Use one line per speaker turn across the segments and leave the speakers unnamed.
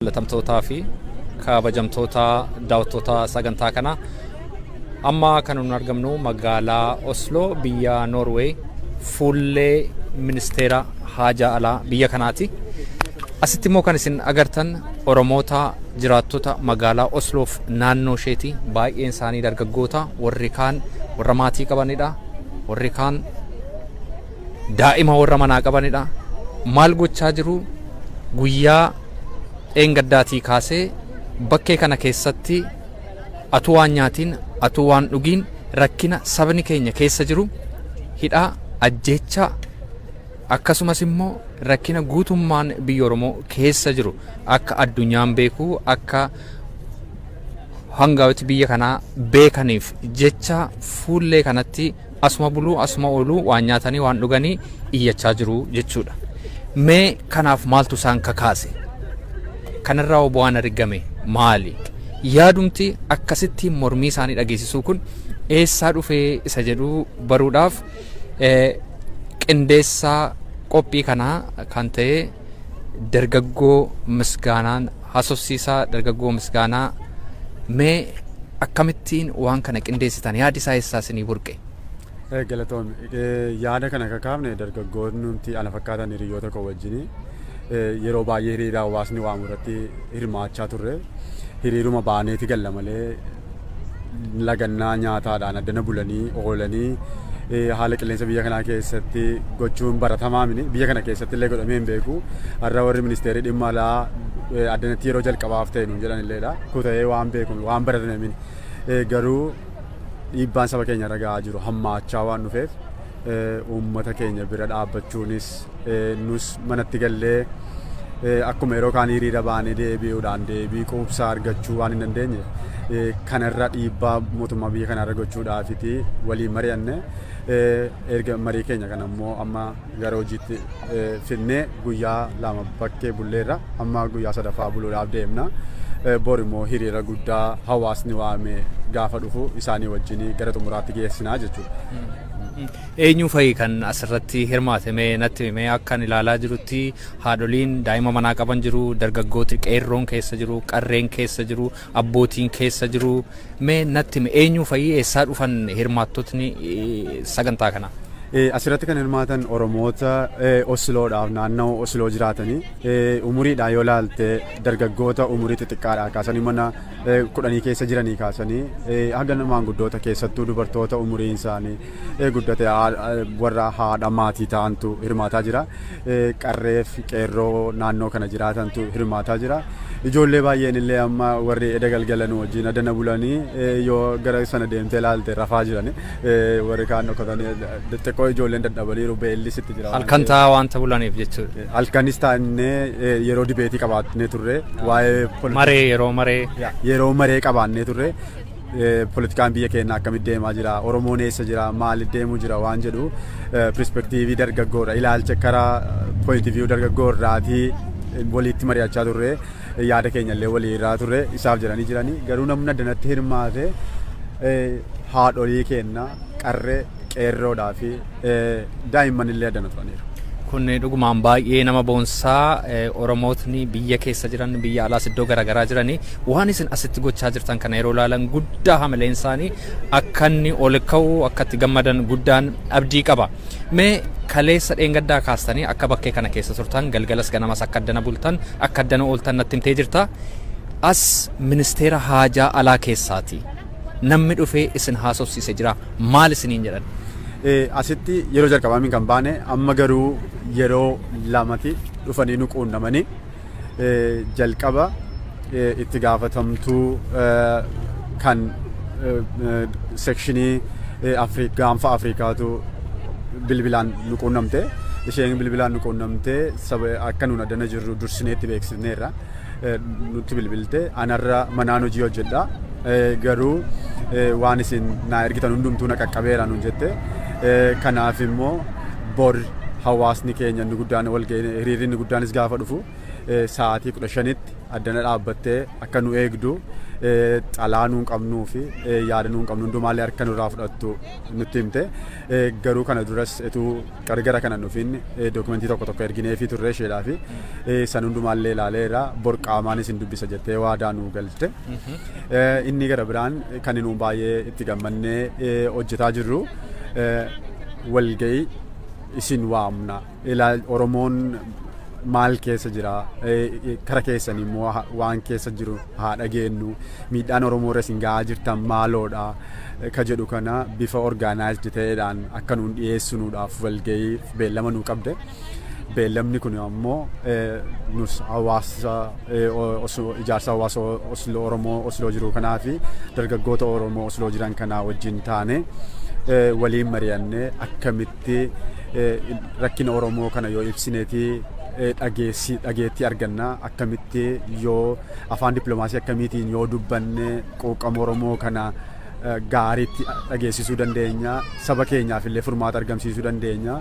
Jaalatamtootaa fi kabajamtoota daawwattoota sagantaa kanaa amma kan nun argamnu magaalaa Oslo biyya Norway fuullee ministeera haajaa alaa biyya kanaati. Asitti immoo kan isin agartan Oromoota jiraattota magaalaa Osloof naannoo isheeti baay'een isaanii dargaggoota warri kaan warra maatii qabanidha warri kaan daa'ima warra manaa qabanidha. Maal gochaa jiru? Guyyaa dheengaddaatii kaasee bakkee kana keessatti atuu waan nyaatiin, atuu waan dhugiin rakkina sabni keenya keessa jiru hidhaa, ajjeechaa akkasumas immoo rakkina guutummaan biyya Oromoo keessa jiru akka addunyaan beeku akka hangaawoti biyya kanaa beekaniif jecha fuullee kanatti Asuma buluu asuma ooluu waan nyaatanii waan dhuganii iyyachaa jiru jechuudha. Mee kanaaf maaltu isaan kakaase? Kanarraa hoo bu'aan argame maali? Yaadumti akkasitti mormii isaanii dhageessisuu kun eessaa dhufee isa jedhu baruudhaaf eh, qindeessaa qophii kanaa kan ta'e dargaggoo misgaanaan hasofsiisaa dargaggoo misgaanaa mee akkamittiin waan kana qindeessitan yaadi isaa eessaa isinii burqe. Eh, Galatoomi.
Eh, Yaada kana akka kaafne dargaggoonni nuti ana fakkaatan hiriyoota koo wajjin yeroo baay'ee hiriira hawaasni waamu irratti hirmaachaa turre. Hiriiruma baaneeti galla malee lagannaa nyaataadhaan addana bulanii oolanii haala qilleensa biyya kanaa keessatti gochuun baratamaa mini biyya kana keessatti illee godhamee hin beeku har'a warri ministeerii dhimma alaa addanatti yeroo jalqabaaf ta'e nuun jedhan illeedha kuta'ee waan beeku waan baratame mini garuu dhiibbaan saba keenya irra ga'aa jiru hammaachaa waan dhufeef uummata keenya bira dhaabbachuunis nus manatti gallee akkuma yeroo kaan hiriira baanee deebi'uudhaan deebii quubsaa argachuu waan hin dandeenye kanarra dhiibbaa mootummaa biyya kanarra gochuudhaafiti waliin mari'anne erga marii keenya kana immoo amma gara hojiitti fidnee Guyyaa lama bakkee bulleerra amma guyyaa sadaffaa buluudhaaf deemna. Bor immoo hiriira guddaa hawaasni waame gaafa dhufu isaanii wajjin gara xumuraatti geessinaa jechuudha. Eenyu
fa'i kan asirratti hirmaate mee natti himi mee akkan ilaalaa jirutti haadholiin daa'ima manaa qaban jiru dargaggooti qeerroon keessa jiru qarreen keessa jiru abbootiin keessa jiru mee natti himi eenyuu fa'i eessaa dhufan hirmaattotni sagantaa kanaa? Asirratti kan
hirmaatan Oromoota Osiloodhaaf naannoo Osiloo jiraatanii umuriidhaan yoo laalte dargaggoota umurii xixiqqaadhaa kaasanii mana kudhanii keessa jiranii kaasanii haga maanguddoota keessattuu dubartoota umuriin isaanii guddate warra haadha maatii ta'antu hirmaataa jira. qarreef qeerroo naannoo kana jiraatantu hirmaataa jira. Ijoollee baay'een illee amma warri eda galgala nu wajjin adana bulanii yoo gara sana deemtee ilaalte rafaa jiran warri kaan dhokatanii xixiqqoo ijoolleen dadhabaniiru beellis itti jira. Halkan taa'aa waanta bulaniif
jechuudha. Halkanis taa'annee
yeroo dibeetii qabaannee turre waa'ee maree yeroo maree yeroo maree qabaannee turre Politikaan biyya keenya akkamitti deemaa jira? Oromoon eessa jira? Maaliif deemuu jira? Waan jedhu perspektiivii dargaggoodha. Ilaalcha karaa pooyinti viyuu dargaggoo irraatii waliitti mari'achaa turre yaada keenya illee walii irraa turre isaaf jedhanii jiranii garuu namni addanatti hirmaate haadholii keenya qarree qeerroodhaa fi daa'imman illee addana turaniiru. Kun dhugumaan
baay'ee nama boonsaa Oromootni biyya keessa jiran biyya alaas iddoo garaagaraa jiranii waan isin asitti gochaa jirtan kana yeroo ilaalan guddaa hamileen isaanii akka inni ol ka'u akka itti gammadan guddaan abdii qaba. Mee kaleessa dheengaddaa kaastanii akka bakkee kana keessa turtan galgalas ganamas akka addana bultan akka addana ooltan natti himtee jirta. As ministeera haajaa alaa keessaati. Namni dhufee isin haasofsiise jiraa? Maal isiniin jedhan? Asitti
yeroo jalqabaa min kan baane amma garuu yeroo lamati dhufanii nu quunnamanii jalqaba itti gaafatamtuu kan sekshinii Afriik gaanfa Afriikaatu bilbilaan nu quunnamte isheen bilbilaan nu quunnamte saba akka nuun addana jirru dursinee itti beeksifneerra. nutti bilbilte anarra manaan hojii hojjedha garuu waan isin naa ergitan hundumtuu na qaqqabeera nuun jette kanaaf immoo bor hawaasni keenya inni guddaan walga'ii hiriirri inni guddaanis gaafa dhufu sa'aatii kudha shanitti addana dhaabbattee akka nu eegdu xalaa nuun qabnuu fi yaada nuun qabnu hundumaallee harka nurraa fudhattu nutti himte garuu kana duras etuu Qarqara kana nufiin dookumentii tokko tokko ergineefii turre isheedhaa fi san hundumaallee ilaaleera bor qaamaan isin dubbisa jettee waadaa nuu galte. Inni gara biraan kan inni baay'ee itti gammannee hojjetaa jirru walga'ii isin waamna. Oromoon maal keessa jira kara keessan immoo waan keessa jiru haa dhageenyu miidhaan Oromoo irra isin ga'aa jirtan maaloodha. ka jedhu kana bifa organized ta'eedhaan akka nuun dhiyeessinuudhaaf walga'iif beellama nuu qabde. Beellamni kun ammoo nus hawaasa ijaarsa hawaasa Osloo Oromoo Osloo jiru kanaa fi dargaggoota Oromoo Osloo jiran kanaa wajjin taane waliin mari'annee akkamitti rakkina Oromoo kana yoo ibsineeti dhageettii arganna akkamitti yoo Afaan dippilomaasii akkamiitiin yoo dubbanne quuqqama Oromoo kana gaariitti dhageessisuu dandeenya, saba keenyaaf illee furmaata argamsiisuu dandeenya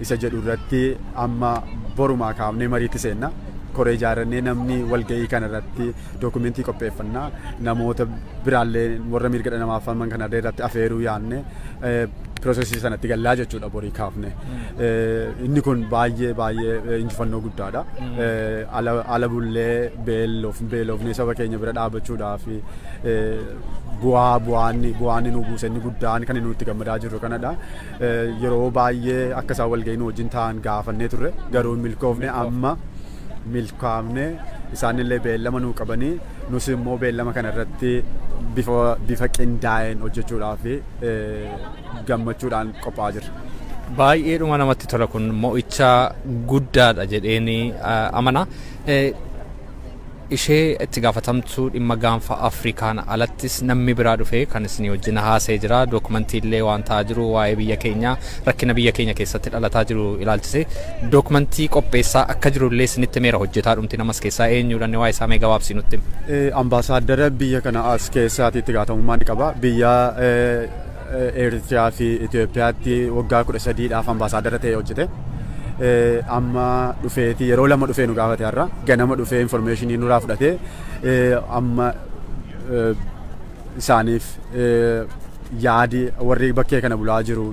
isa jedhu irratti amma borumaa kaafnee mariitti seenna. Koree ijaarrannee namni walga'ii kana irratti dookumentii qopheeffanna. Namoota biraallee warra mirga dhala namaaf falman kana irratti afeeruu yaadne. piroosesii sanatti gallaa jechuudha borii kaafne. Inni kun baay'ee baay'ee injifannoo guddaadha. Ala bullee beeloof beeloofnee saba keenya bira dhaabachuudhaa fi bu'aa bu'aanni bu'aanni nu buuse inni guddaan kan nuti gammadaa jirru kanadha. Yeroo baay'ee akka isaan walga'ii nu wajjin ta'an gaafannee turre garuu hin milkoofne amma milkaafne isaanillee beellama nuu qabanii nus immoo beellama kana irratti bifa bifa qindaa'een hojjechuudhaaf gammachuudhaan qophaa'aa jirra. Baay'eedhuma
namatti tola kun mo'icha guddaadha jedheen amana. Ishee itti gaafatamtuu dhimma gaanfa Afrikaan alattis namni biraa dhufee kan isinii wajjin haasa'ee jira. Dookumantii illee waan ta'aa jiru waa'ee biyya keenyaa Rakkina biyya keenya keessatti dhalataa jiru ilaalchisee dookmantii qopheessaa akka jiru illee isinitti himeera hojjetaa dhumti namas keessaa eenyuudha inni waa'ee isaa mee gabaabsii nutti himi. Ambaasaaddara
biyya kana as keessaati itti gaafatamummaa ni qaba. Biyya Eeritiriyaa fi Itoophiyaatti waggaa kudha sadiidhaaf ambaasaaddara ta'ee hojjete. Amma dhufeeti yeroo lama dhufee nu gaafate har'a ganama dhufee informeeshinii nurraa fudhatee amma isaaniif yaadi warri bakkee kana bulaa jiru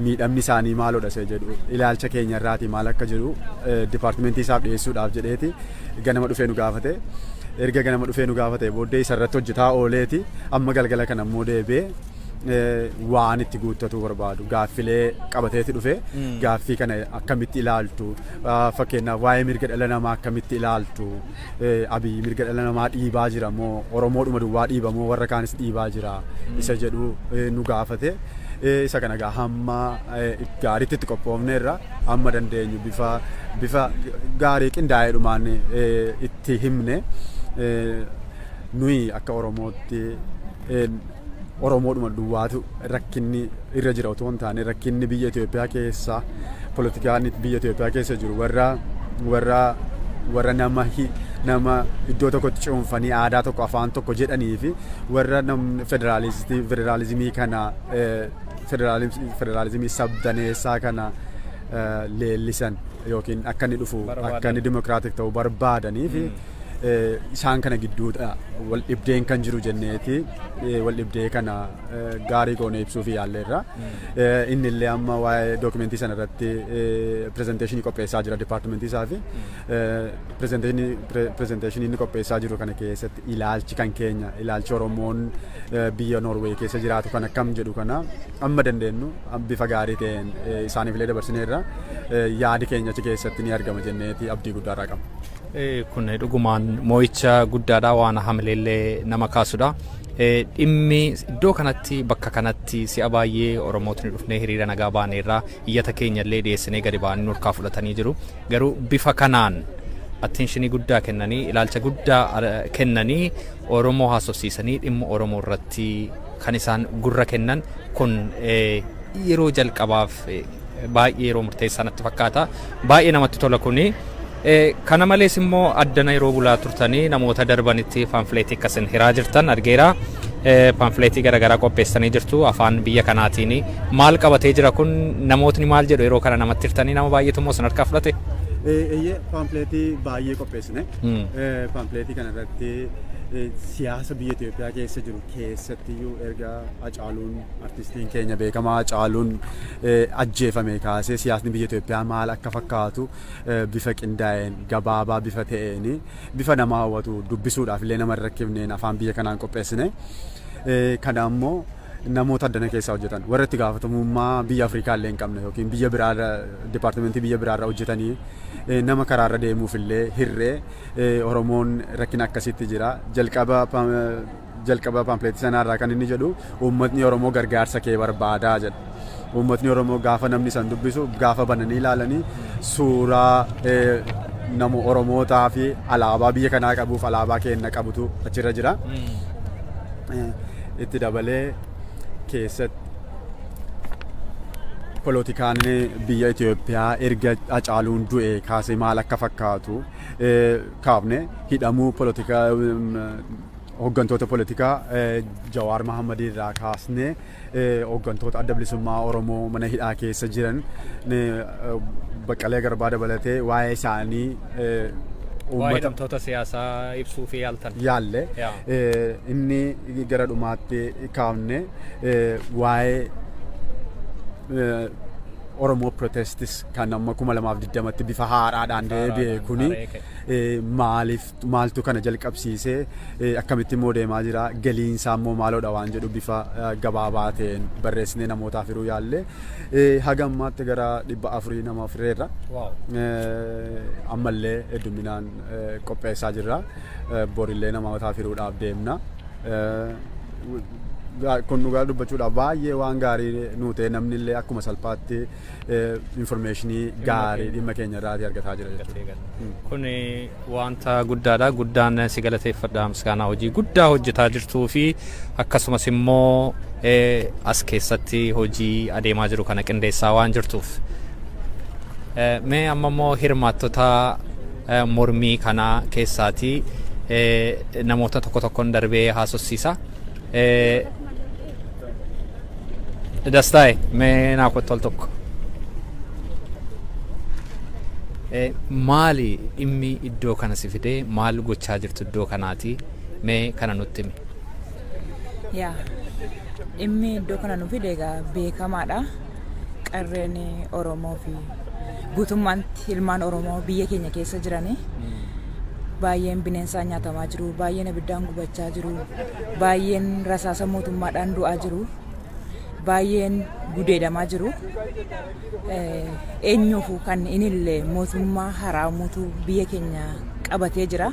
miidhamni isaanii maalodha isa jedhu ilaalcha keenya irraati maal akka jiru dipaartimentii isaaf dhiyeessuudhaaf jedheeti ganama dhufee nu gaafate. Erga ganama dhufee nu gaafate booddee isa irratti hojjetaa ooleeti amma galgala kana immoo deebi'ee waan itti guuttatuu barbaadu gaaffilee qabateeti dhufe gaaffii kana akkamitti ilaaltu fakkeenyaaf waa'ee mirga dhala namaa akkamitti ilaaltu Abiy mirga dhala namaa dhiibaa jira moo Oromoodhuma duwwaa dhiiba moo warra kaanis dhiibaa jira isa jedhu nu gaafate. Isa kana egaa hamma gaariitti itti qophoofneerra amma dandeenyu bifa bifa gaarii qindaa'eedhumaan itti himne nuyi akka Oromootti Oromoodhuma duwwaatu rakkinni irra jira otoo hin taane rakkinni biyya Itoophiyaa keessa politikaan biyya Itoophiyaa keessa jiru warra warra warra nama hi- nama iddoo tokkotti cuunfanii aadaa tokko afaan tokko jedhanii fi warra namni federaalistii federaalizimii kana eh, federaalis- federaalizimii sabdaneessaa kana eh, leellisan yookiin akka inni dhufu akka inni dimokiraatik ta'u barbaadanii fi isaan kana gidduudha wal dhibdeen kan jiru jenneeti wal dhibdee kana gaarii goone ibsuuf yaalleerra. Inni illee amma waa'ee dookumentii sana irratti pirezenteeshinii qopheessaa jira dipaartimentii isaa fi pirezenteeshinii inni qopheessaa jiru kana keessatti ilaalchi kan keenya ilaalchi Oromoon biyya Noorweey keessa jiraatu kan akkam jedhu kana amma dandeenyu bifa gaarii ta'een isaaniif illee dabarsineerra yaadi keenya achi keessatti ni argama jenneeti abdii guddaa irraa qabna. Kun
dhugumaan moo'icha guddaadha waan hamileellee nama kaasudha. Dhimmi iddoo kanatti bakka kanatti si'a baay'ee Oromootni dhufnee hiriira nagaa baaneerraa iyyata keenyallee dhiyeessinee gadi ba'anii nurkaa fudhatanii jiru. Garuu bifa kanaan atteenshinii guddaa kennanii ilaalcha guddaa kennanii Oromoo haasofsiisanii dhimma Oromoo irratti kan isaan gurra kennan kun yeroo jalqabaaf Baay'ee yeroo murteessaa natti fakkaata. Baay'ee namatti tola kuni. Kana malees immoo addana yeroo bulaa turtanii namoota darbanitti paamfileetii akka isin hiraa jirtan argeera. Paamfileetii garaagaraa qopheessanii jirtu afaan biyya kanaatiin. Maal qabatee jira kun namootni maal jedhu yeroo kana namatti hirtanii nama baay'eetu immoo isin harkaa fudhate. Eeyyee
paamfileetii baay'ee qopheessine. Paamfileetii kanarratti siyaasa biyya Itoophiyaa keessa jiru keessattiyyuu erga Hacaaluun artistiin keenya beekamaa Hacaaluun ajjeefame kaasee siyaasni biyya Itoophiyaa maal akka fakkaatu bifa qindaa'een gabaabaa bifa ta'een bifa nama hawwatu dubbisuudhaaf illee nama hin rakkifneen afaan biyya kanaan qopheessine. Kana ammoo namoota addana keessaa hojjetan warra itti gaafatamummaa biyya Afrikaa illee hin qabne yookiin biyya biraarra dipaartimentii biyya biraarra hojjetanii nama karaarra deemuuf illee hirree Oromoon rakkina akkasitti jira jalqaba jalqaba paampileetii sanaa irraa kan inni jedhu uummatni Oromoo gargaarsa kee barbaadaa jedha. Uummatni Oromoo gaafa namni san dubbisu gaafa bananii ilaalanii suuraa nama Oromootaa fi alaabaa biyya kanaa qabuuf alaabaa keenna qabutu achirra jira. Itti dabalee keessatti polotikaan biyya Itoophiyaa erga Hacaaluun du'e kaasee maal akka fakkaatu kaafne hidhamuu polotikaa hooggantoota polotikaa Jawaar Mahammadii irraa kaasnee hooggantoota adda bilisummaa Oromoo mana hidhaa keessa jiran Baqqalee Garbaa dabalatee waa'ee isaanii
Waa'ee hidhamtoota siyaasaa ibsuu fi yaaltan. yaalle Yaa.
inni gara dhumaatti kaafne waa'ee Oromoo Protestis kan amma kuma lamaaf digdamatti bifa haaraadhaan deebi'e kuni maaliif maaltu kana jalqabsiise akkamitti immoo deemaa jira galiin isaa immoo maaloodha waan jedhu bifa gabaabaa ta'een barreessinee namootaaf hiruu yaalle haga ammaatti gara dhibba afurii nama fireerra ammallee hedduminaan qopheessaa jirra borillee namootaaf hiruudhaaf deemna. kun dhugaa dubbachuudhaaf baay'ee waan gaarii nu ta'e namni illee akkuma salphaatti Infoormeeshinii gaarii dhimma keenya irraatii argataa jira jechuudha. Kun
wanta guddaadha. Guddaan si galateeffadha misgaanaa hojii guddaa hojjetaa jirtuu fi akkasumas immoo as keessatti hojii adeemaa jiru kana qindeessaa waan jirtuuf. Mee amma immoo hirmaattota mormii kana keessaatii namoota tokko tokkoon darbee haasofsiisa. Dastaa'e mee naa kottu al tokko. Eh, Maali dhimmi iddoo kana si fidee maal gochaa jirtu iddoo kanaati mee kana nutti himi. Yaa
dhimmi iddoo kana nu fide egaa beekamaadha. qarreen Oromoo fi guutummaatti ilmaan Oromoo biyya keenya keessa jiranii baay'een bineensaan nyaatamaa jiru, baay'een abiddaan gubachaa jiru, baay'een rasaasa mootummaadhaan du'aa jiru, baay'een gudeedamaa jiru. Eh, Eenyuufu kan inillee mootummaa haraamuutu biyya keenya qabatee jira.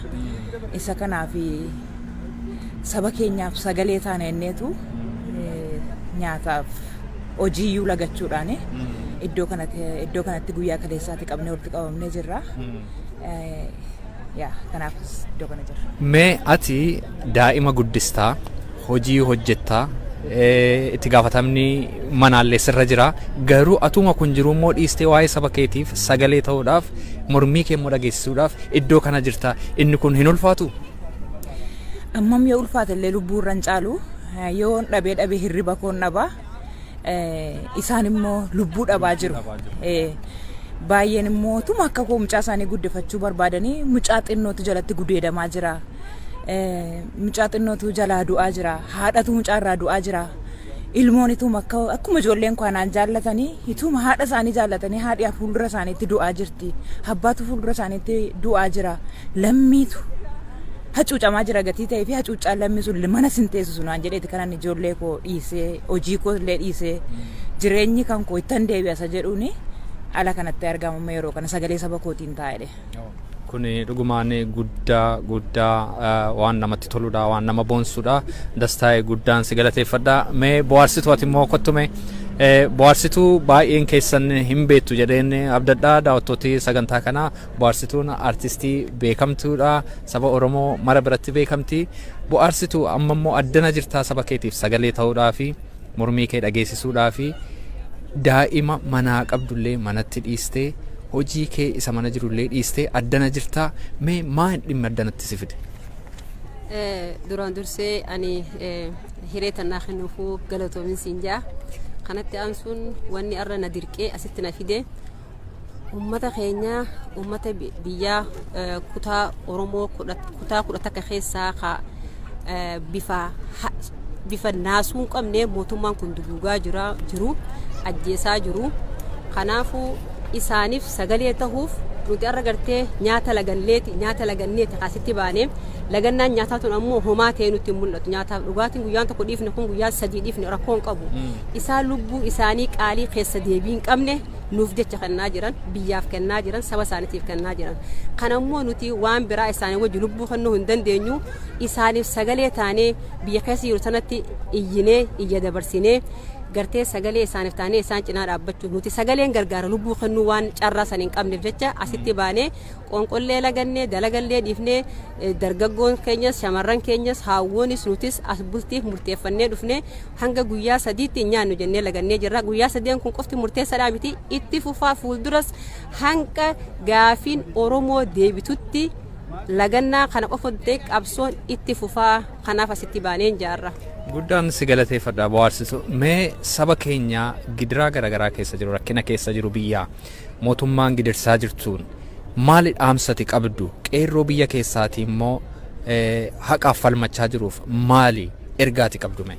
Isa kanaaf saba keenyaaf sagalee taana inneetu eh, nyaataaf hojiiyyuu lagachuudhaan iddoo kanatti iddoo kanatti guyyaa kaleessaatti qabnee walitti qabamnee jirra. Eh, Yaa kanaafis iddoo kana jirra. Mee ati
daa'ima guddistaa, hojii hojjettaa, eh, itti gaafatamni manaallee sirra jira. Garuu atuma kun jiru immoo dhiistee waa'ee saba keetiif sagalee ta'uudhaaf mormii kee immoo dhageessisuudhaaf iddoo kana jirta. Inni kun hin ulfaatu?
Ammam yoo ulfaate illee lubbuu irra hin caalu Yoon dhabee dhabee hirriba koon dhabaa isaan immoo lubbuu dhabaa jiru. Baay'een immoo tuma akka koo mucaa isaanii guddifachuu barbaadanii mucaa xinnootu jalatti gudeedamaa jira. Mucaa xinnootu jalaa du'aa jira. Haadhatu mucaa irraa du'aa jira. Ilmoon ituma akka akkuma ijoolleen koo anaan jaallatanii ituma haadha isaanii jaallatanii haadhi fuuldura isaaniitti du'aa jirti. Abbaatu fuuldura isaaniitti du'aa jira. Lammiitu hacuucamaa jira gatii ta'ee fi hacuuccaan lammii sun mana sin teessisu naan jedheeti kanan ijoollee koo dhiisee hojii koo illee dhiisee jireenyi kan koo ittan deebi'a isa jedhuuni ala kanatti argama amma yeroo kana sagalee saba kootiin taa'edhe. Kun
dhugumaan guddaa guddaa eh, waan namatti toludha waan nama boonsudha dastaa'e guddaan si galateeffadha mee bohaarsitu ati immoo kottume eh, bohaarsituu baay'een keessan hin beektu jedheen abdadha daawwattooti sagantaa kanaa Bohaarsituun artistii beekamtuudha. Saba Oromoo mara biratti beekamti. Bohaarsitu amma immoo addana jirtaa saba keetiif sagalee ta'uudhaa fi mormii kee dhageessisuudhaa fi daa'ima manaa qabdullee manatti dhiistee hojii kee isa mana jirullee dhiistee addana jirtaa mee maa hin dhimma addanatti si fide?
Duraan dursee ani hiree tannaa kennuufuu galatoomin siin jaa. Kanatti aansuun wanni arra na dirqee asitti na fide. Uummata keenya uummata biyyaa kutaa Oromoo kutaa kudha takka keessaa ka bifa bifa naasuu hin qabne mootummaan kun duguugaa jira jiru ajjeesaa jiru kanaafuu isaaniif sagalee tahuuf nuti arra gartee nyaata laganneeti nyaata laganneeti kaasitti baane lagannaan nyaataa tun ammoo homaa ta'ee nutti hin mul'atu nyaataaf dhugaatiin guyyaan tokko dhiifne kun guyyaan sadii dhiifne rakkoo hin qabu isaan lubbuu isaanii qaalii keessa deebii hin qabne nuuf jecha kennaa jiran, biyyaaf kennaa jiran, saba isaaniitiif kennaa jiran. Kana immoo nuti waan biraa isaanii wajji lubbuu kennuu hin dandeenyu. Isaaniif sagalee taanee biyya keessa jiru sanatti iyyinee, iyya dabarsinee gartee sagalee isaaniif taanee isaan cinaa dhaabbachuu nuti sagaleen gargaara lubbuu kennuu waan carraa san hin qabneef jecha asitti baanee qoonqollee lagannee dalagallee dhiifnee Dargaggoon keenyas shamarran keenyas haawwoonis nutis as bultiif murteeffannee dhufnee hanga guyyaa sadiitti hin nyaannu jennee lagannee jirra. Guyyaa sadeen kun qofti murteessaadhaa miti itti fufaa fuulduras hanga gaafiin Oromoo deebitutti lagannaa kana qofa ta'e qabsoon itti fufaa kanaaf asitti baaneen jaarra. Guddaan si
galateeffadha bohaarsitu. Mee saba keenya gidiraa garaagaraa keessa jiru rakkina keessa jiru biyyaa mootummaan gidirsaa jirtuun Maali dhaamsa ati qabdu? Qeerroo biyya keessaati immoo haqaaf falmachaa jiruuf maali ergaa ati qabdu mee?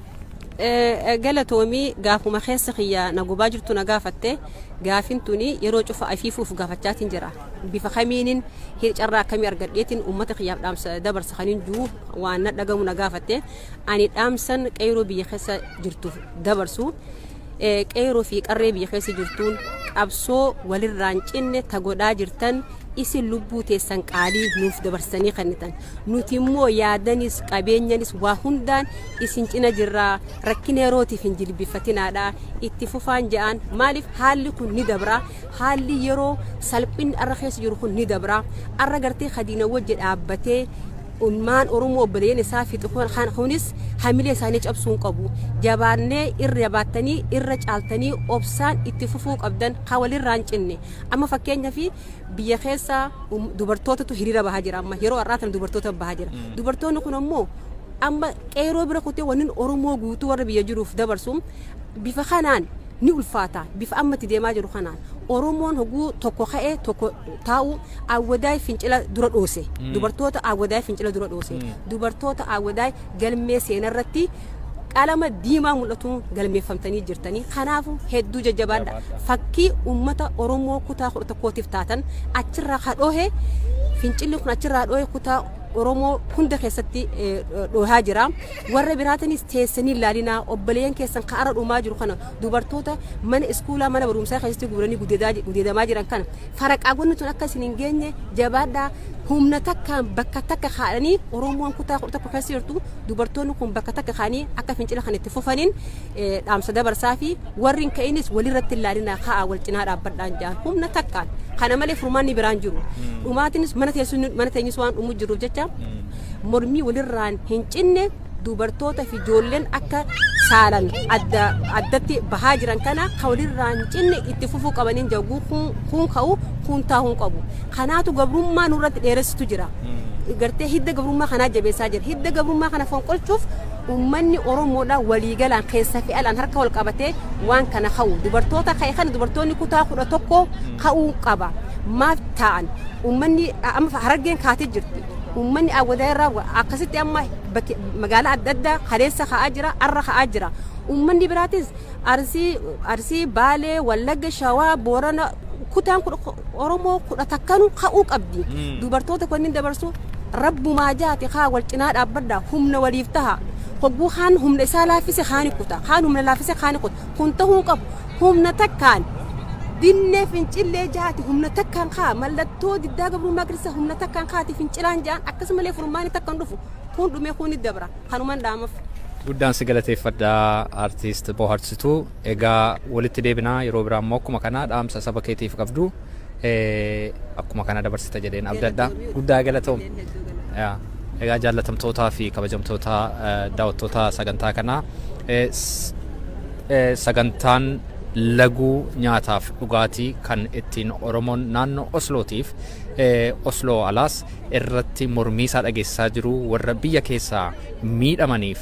Galatoomi gaafuma keessa kiyya na gubaa jirtu na gaafatte gaafin tuni yeroo cufa afiifuuf gaafachaatiin jira bifa kamiinin carraa akkamii argadheetiin uummata kiyyaaf dhaamsa dabarsa kan hin jiru waan na dhagamu na gaafatte ani dhaamsan qeerroo biyya keessa jirtuuf dabarsu qeeroo fi qarree biyya keessa jirtuun qabsoo walirraan cinne ta godhaa jirtan isin lubbuu teessan qaalii nuuf dabarsanii kennitan nuti immoo yaadanis qabeenyanis waa hundaan isin cina jirraa rakkina yerootiif hin jilbifatinaadha itti fufaan ja'an maaliif haalli kun ni dabra haalli yeroo salphinni arra keessa jiru kun ni dabra arra gartee kadiina wajji dhaabbatee Ilmaan Oromoo obboleeyyan isaa fixu kan kunis hamilee isaanii cabsuu hin qabu. Jabaannee irra jabaattanii irra caaltanii obsaan itti fufuu qabdan kan walirraa hin cinne. Amma fakkeenyaaf biyya keessa um, dubartootatu hiriira bahaa jira amma yeroo har'aa tana dubartoota bahaa jira. Dubartoonni kun ammoo amma qeeroo bira kutee wannin Oromoo guutuu warra biyya jiruuf dabarsu bifa kanaan ni ulfaata. Bifa amma itti deemaa jiru kanaan Oromoon hoguu tokko ka'ee tokko taa'u Awwadaay fincila dura dhoose. Dubartoota Awwadaay fincila dura dhoose. Dubartoota Awwadaay galmee seenarratti qalama diimaa mul'atuun galmeeffamtanii jirtanii. Kanaafu hedduu jajjabaadha. Fakkii uummata Oromoo kutaa kudha tokkootiif taatan achirraa ka dhoohe fincilli kun achirraa dhoohe kutaa Oromoo hunda keessatti dhoohaa jira. Warra biraatinis teessanii ilaalinaa obboleeyyan keessan ka ara dhumaa jiru kana dubartoota mana iskuulaa mana barumsaa keessatti guuranii gudeedamaa jiran kana faraqaagonni tun akka isin hin geenye jabaadhaa humna takkaan bakka takka kaa'anii Oromoon kutaa kudha tokko keessa jirtu dubartoonni kun bakka takka kaa'anii akka fincila kan itti fufaniin eh, dhaamsa dabarsaa fi warri hin ka'inis walirratti hin laalinaa ka'aa wal cinaa dhaabbadhaan jaan humna takkaan kana malee furmaanni biraan jiru dhumaatinis mana teessuun mana teenyus waan dhumu jiruuf jecha mormii walirraan hin cinne dubartoota fi ijoolleen akka saalan adda addatti bahaa jiran kana ka walirraa hin cinne itti fufuu qabaniin jaguu kun kun ka'u kun taa'uu hin qabu kanaatu gabrummaa nurratti dheeressitu jira gartee hidda gabrummaa kanaa jabeessaa jira hidda gabrummaa kana fonqolchuuf ummanni oromoodha waliigalaan keessa fi alaan harka wal qabatee waan kana ka'u dubartoota ka'e kana dubartoonni kutaa kudha tokko ka'uu qaba maaf taa'an ummanni amma harargeen kaatee jirti Uummanni Awwadaay irraa akkasitti amma magaalaa adda addaa kaleessa ka'aa jira, har'a ka'aa jira. Uummanni biraatis Arsii, Arsii, Baalee, Wallagga, Shawaa, Boorana kutaan Oromoo kudha takkanuu ka'uu qabdi. Dubartoota kunniin dabarsu rabbumaa jaati kaa wal cinaa dhaabbadha humna waliif taha. Hogguu kaan humna isaa laaffise kaani kuta, kaan humna laaffise kaani kuta. Kun tahuu qabu humna takkaan dinnee fincillee jaati humna takkaan kaa mallattoo diddaa gabrummaa agarsiisa humna takkaan kaati fincilaan jaan akkasumallee furmaani takkan dhufu kun dhumee kun ni dabra kanuman dhaamaf. Guddaan si
galateeffadha artiist Booharsituu. Egaa walitti deebinaa yeroo biraa immoo akkuma kanaa dhaamsa saba keetiif qabdu. akkuma kana dabarsita jedheen abdadha. Guddaa galatoom. Egaa jaallatamtootaa fi kabajamtoota daawwattoota sagantaa kanaa sagantaan laguu nyaataaf dhugaatii kan ittiin Oromoon naannoo Oslootiif Osloo alaas irratti mormiisaa dhageessisaa jiru warra biyya keessaa miidhamaniif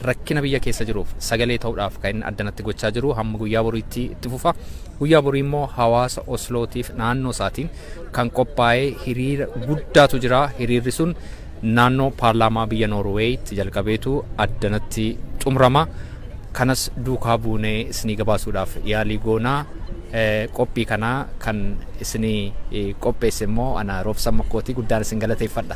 rakkina biyya keessa jiruuf sagalee ta'uudhaaf kan addanatti gochaa jiru hamma guyyaa boriitti itti fufa. Guyyaa borii immoo hawaasa Oslootiif naannoo isaatiin kan qophaa'ee hiriira guddaatu jira. Hiriirri sun naannoo paarlaamaa biyya Noorweeyitti jalqabeetu addanatti xumurama. Kanas duukaa buunee isinii gabaasuudhaaf yaalii goona. Qophii kana kan isinii qopheesse immoo ana Roobsan Makkooti guddaan isin galateeffadha.